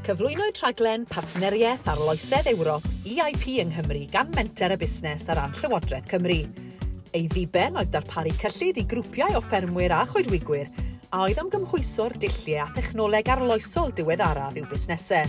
Cyflwynwyd rhaglen Partneriaeth Arloesedd Ewrop, EIP, yng Nghymru gan Menter y Busnes ar ran Llywodraeth Cymru. Ei ddiben oedd darparu cyllid i grwpiau o ffermwyr a choedwigwyr a oedd am gymhwyso'r dulliau a thechnoleg arloesol diweddaraf i'w busnesau.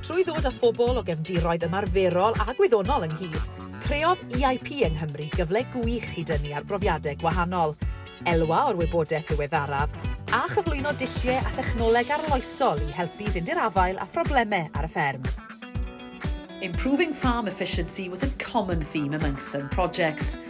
Trwy ddod â phobl o gefndiroedd ymarferol a gwyddonol ynghyd, creodd EIP yng Nghymru gyfle gwych i dynnu ar brofiadau gwahanol, elwa o'r wybodaeth ddiweddaraf, a chyflwyno dulliau a thechnoleg arloesol i helpu fynd i'r afael â phroblemau ar y fferm. Improving farm efficiency was a common theme amongst some projects.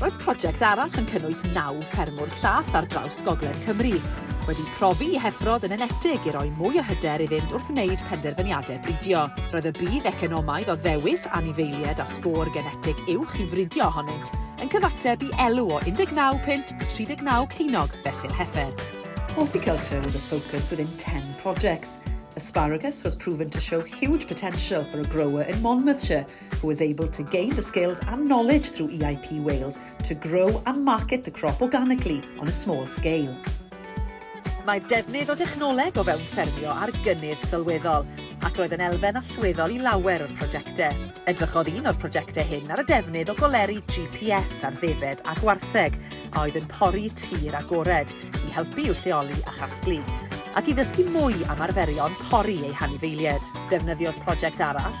Roedd prosiect arall yn cynnwys naw ffermwr llath ar draws gogledd Cymru wedi profi i heffrod yn enetig i roi mwy o hyder iddynt wrth wneud penderfyniadau bridio. Roedd y budd economaidd o ddewis anifeiliaid â sgôr genetig uwch i fridio ohonynt yn cyfateb i elw o 19 punt a 39 ceiniog fesul heifer. Horticulture was a focus within 10 projects. Asparagus was proven to show huge potential for a grower in Monmouthshire, who was able to gain the skills and knowledge through EIP Wales to grow and market the crop organically on a small scale. Mae defnydd o dechnoleg o fewn ffermio ar gynnydd sylweddol, ac roedd yn elfen allweddol i lawer o'r prosiectau. Edrychodd un o'r prosiectau hyn ar y defnydd o goleri GPS ar ddefed a gwartheg a oedd yn pori tir agored i helpu i'w lleoli a chasglu, ac i ddysgu mwy am arferion pori ei hanifeiliaid. Defnyddiodd prosiect arall,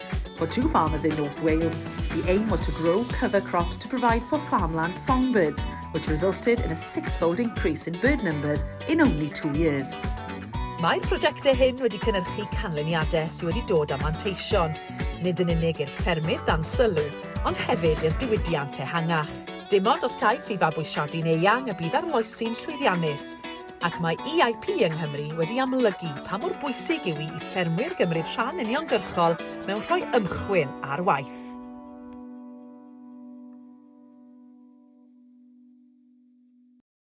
For two farmers in North Wales, the aim was to grow cover crops to provide for farmland songbirds, which resulted in a six-fold increase in bird numbers in only two years. Mae prosiectau hyn wedi cynhyrchu canlyniadau sydd wedi dod â manteision, nid yn unig i'r ffermydd dan sylw, ond hefyd i'r diwydiant ehangach. Dim ond os caiff ei fabwysiadu'n eang y bydd arloesi'n llwyddiannus, ac mae EIP yng Nghymru wedi amlygu pa mor bwysig yw i ffermwyr gymryd rhan uniongyrchol mewn rhoi ymchwil ar waith.